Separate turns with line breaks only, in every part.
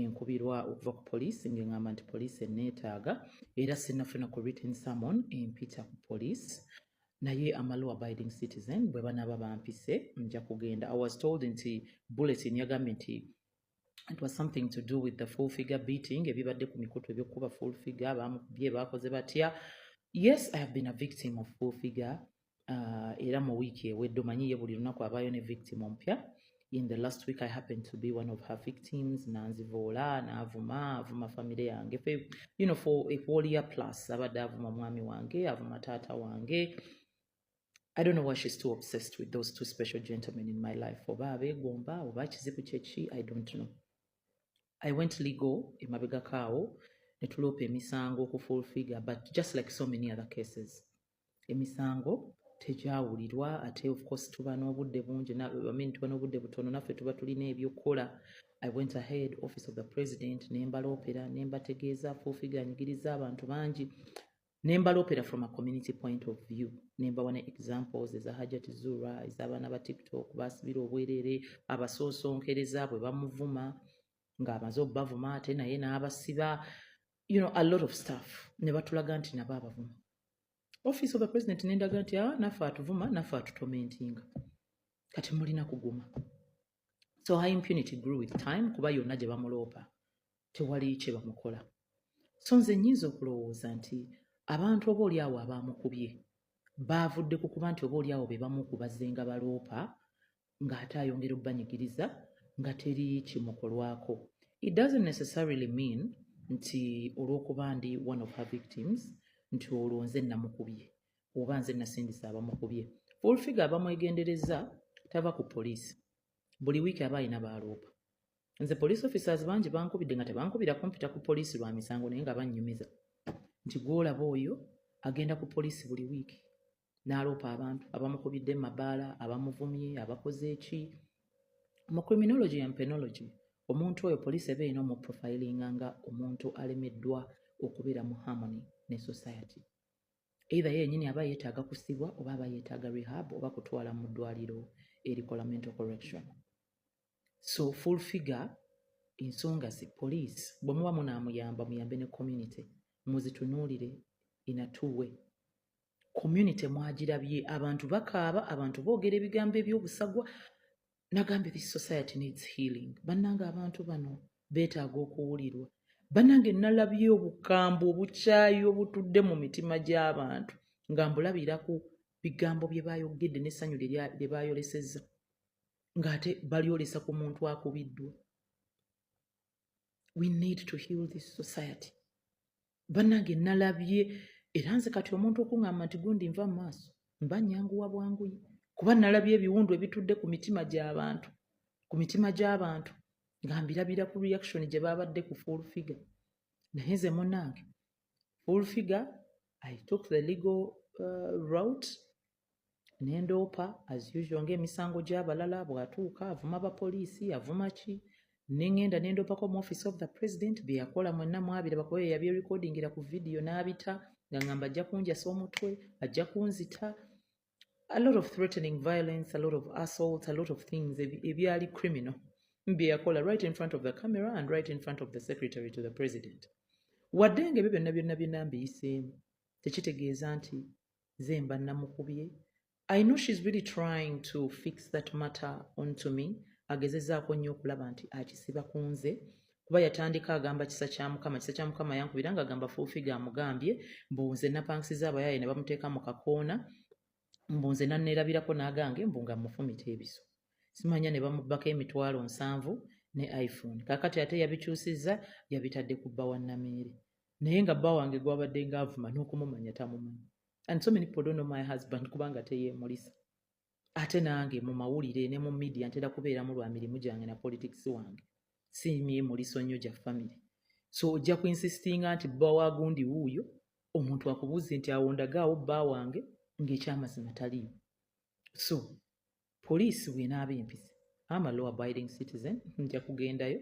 enkubirwa okuva ku poliisi ng'eŋŋamba nti poliisi enneetaaga era sinnafuna ku written summon empita ku poliisi naye amalu abiding citizen bwe banaaba bampise nja kugenda i was told nti bulletin yagambye nti it was something to do with the full figure beating ebibadde ku mikutu ebyokukuba full figure baamukubye baakoze batya yes i have been a victim of full figure uh, era mu wiiki ewedde omanyi ye buli lunaku abaayo ne victim ompya in the last week i happened to be one of her victims nanzivoola naavuma avuma famire yange you know for a whole year plus abadde avuma mwami wange avuma taata wange I don't know why she's too obsessed with those two special gentlemen in my life. Oba abegomba, oba kizibu chechi, I don't know. I went legal in Mabega Kao, Netulope Misango, Kuful Figure, but just like so many other cases, emisango tegyawulirwa ate of course tuba n'obudde bungi mean tuba n'obudde butono naffe tuba tulina ebyokukola i went ahead office of the president ne mbaloopera ne mbategeeza fuufiga anyigiriza abantu bangi ne mbaloopera from a community point of view ne mbawa ne examples eza hajat zura ez'abaana ba tiktok baasibira obwereere abasoosonkereza bwe bamuvuma ng'amaze obubavuma ate naye n'abasiba you know a lot of stuff ne batulaga nti nabo abavuma office of the president nendaga nti a ah, naffe atuvuma naffe atutomentinga kati mulina kuguma so high impunity grew with time kuba yonna gye bamuloopa tewali kye bamukola so nze nyinza okulowooza nti abantu oba oli awo abaamukubye baavudde ku kuba nti oba oli awo be bamu kubazzenga baloopa ng'ate ayongera okubanyigiriza nga teri kimukolwako it doesn't necessarily mean nti olw'okuba ndi one of her victims nti olwo nze namukubye oba nze nasindisa abamukubye fulfiga abamwegendereza tava ku poliisi buli wiiki aba alina baaloopa nze police officers bangi bankubidde nga tebankubira kumpita ku poliisi lwa misango naye nga bannyumiza nti gwolaba oyo agenda ku poliisi buli wiiki n'aloopa abantu abamukubidde mu mabaala abamuvumye abakoze eki mu criminology and penology omuntu oyo poliisi eba erina omuprofilinga nga omuntu alemeddwa okubeera mu harmony ne society either yenyini aba yeetaaga kusibwa oba aba yeetaaga rehab oba kutwala mu ddwaliro erikola mental correction so full figure ensonga zi poliisi bwe muba munaamuyamba muyambe ne community muzitunuulire in a two way community mwagirabye abantu bakaaba abantu boogera ebigambo ebyobusagwa nagambye this society needs healing bannanga abantu bano beetaaga okuwulirwa bannange nalabye obukambwe obukyayi obutudde mu mitima gy'abantu nga mbulabira ku bigambo bye baayogedde n'essanyu lye baayolesezza ng'ate balyolesa ku muntu akubiddwa we need to heal this society bannange nalabye era nze kati omuntu okuŋamba nti gundi nva mu maaso mba nyanguwa bwanguyi kuba nalabye ebiwundu ebitudde ku mitima gy'abantu ku mitima gy'abantu nga mbirabira ku reaction gye baabadde ku full figure naye nze munnange full figure i took the legal uh, route nendoopa as usual ng'emisango gy'abalala bw'atuuka avuma bapoliisi avuma ki nengenda nendoopako mu office of the president byeyakola mwenna mwabira bakuba yeyabyerekodingira ku vidiyo n'abita nga ngamba ajja kunjasa omutwe ajja kunzita a lot of threatening violence a lot of assault a lot of things ebyali criminal byeyakola right in front of the camera and right in front of the secretary to the president wadde nga ebyo byonna byonna byonna mbiyiseemu tekitegeeza nti nze mba namukubye i know she's really trying to fix that matter onto me agezezaako nnyo okulaba nti akisiba ku nze kuba yatandika agamba kisa kya mukama kisa kya mukama yankubira nga agamba fulfiga amugambye mbu nze napangisiza abayaaye ne bamuteeka mu kakoona mbu nze nanneerabirako n'agange mbu nga mufumita ebiso simanya ne bamubbako emitwalo nsanvu ne iphone kakati ate yabikyusizza yabitadde ku bba wa nameere naye nga bba wange gwabadde nga avuma n'okumumanya tamumanyi and so many people don't know my husband kubanga teyeemulisa ate nange mu mawulire ne mu media ntera kubeeramu lwa mirimu gyange na politics wange si myemuliso nnyo gya family so ojja ku insistinga nti bba wagundi wuuyo omuntu akubuuze nti awo ndagaawo bba wange ng'ekyamazima taliimu so poliisi bw'enaaba empise am a law abiding citizen nja kugendayo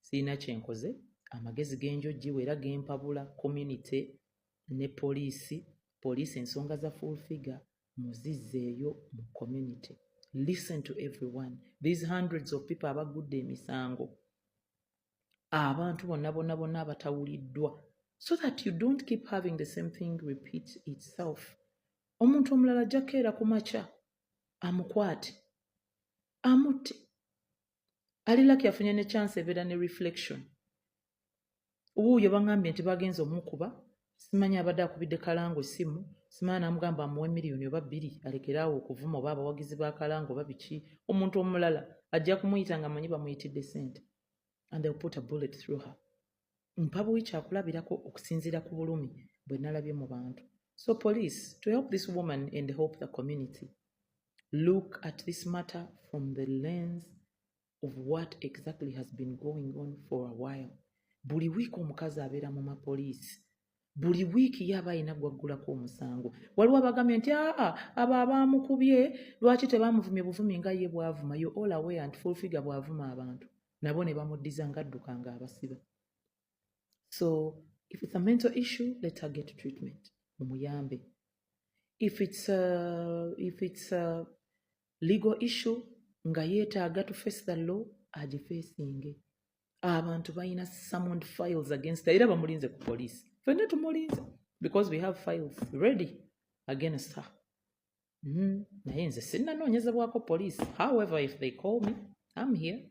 sirina kyenkoze amagezi genjojjiwa era gempabula community ne poliisi poliisi ensonga za full figure muzizzeeyo mu community listen to everyone these hundreds of people abagudde emisango abantu bonna bonna bonna abatawuliddwa so that you don't keep having the same thing repeat itself omuntu omulala ajja kukeera ku makya amukwate amutte ali laki afunye ne chance ebeera ne reflection wuuyo bangambye nti bagenza omukuba simanyi abadde akubidde kalango essimu simanyi namugamba amuwe miliyoni oba bbiri alekeraawo okuvuma oba abawagizi ba kalango oba biki omuntu omulala ajja kumuyita nga manyi bamuyitidde sente and they'll put a bullet through her mpabuwi kyakulabirako okusinziira ku bulumi bwe nalabye mu bantu so police to help this woman and help the community look at this matter from the lens of what exactly has been going on for a while buli wiiki omukazi abeera mu mapoliisi buli wiiki ye aba alina gwaggulako omusango waliwo abagambye nti aa abo abaamukubye lwaki tebaamuvumye buvumi nga ye bwavuma yo all away and full figure bwavuma abantu nabo ne bamuddiza ng'adduka ng'abasiba so if it's a mental issue let her get treatment mumuyambe if it's a, if it's a legal issue nga yeetaaga to face the law agifeesinge abantu balina summoned files against era bamulinze ku poliisi fenna tumulinze because we have files ready against her mm, naye nze sinnanoonyezebwako poliisi however if they call me am here